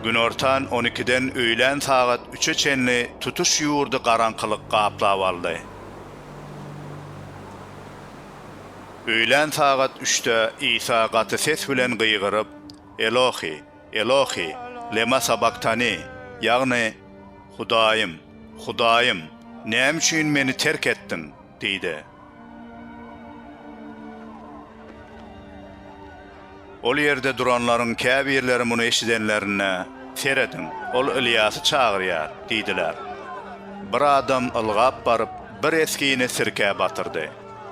Günortan on ikiden öýlän sagat üçe çenli tutuş ýurdy garaňkylyk gaplap aldy. Öýlän sagat üçde Isa gaty ses bilen gygyryp, Elohi, Elohi, lema sabaktani, ýagny, Hudaýym, Hudaýym, näme üçin Meni terk etdiň? diýdi. Ol ýerde duranlaryň käbirleri muny eşidenlerinde, Serediň, ol Ylýasy çagyrýar! diýdiler. Bir adam ylgap baryp, bir esgini sirkä batyrdy.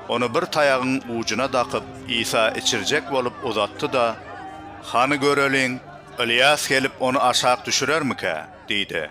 Ony bir taýagyň ujuna dakyp, Isa içirjek bolup uzatdy-da, Hany göreliň, Ylýas gelip, ony aşak düşürermikä? diýdi.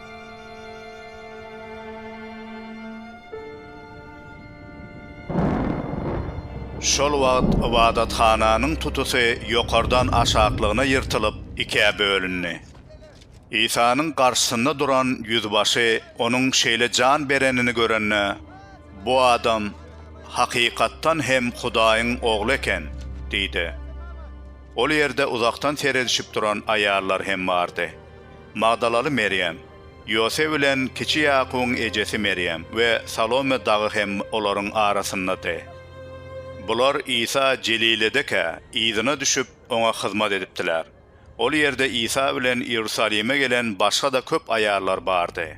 Şol wagt ybadathananyň tutusy ýokardan aşaklygyna ýyrtylyp, ikä bölündi. Isanyň garşysynda duran ýüzbaşy onuň şeýle jan berenini görende, Bu adam, hakykatdan hem, Hudaýyň Ogly eken! diýdi. Ol ýerde uzakdan seredişip duran aýallar hem bardy. Magdalaly Merýem, Ýosep bilen kiçi Ýakubyň ejesi Merýem we Salome dagy hem olaryň arasyndady. Bular Isa Jeliledekä yzyna düşüp, oňa hyzmat edipdiler. Ol ýerde Isa bilen Iýerusalime gelen başga-da köp aýallar bardy.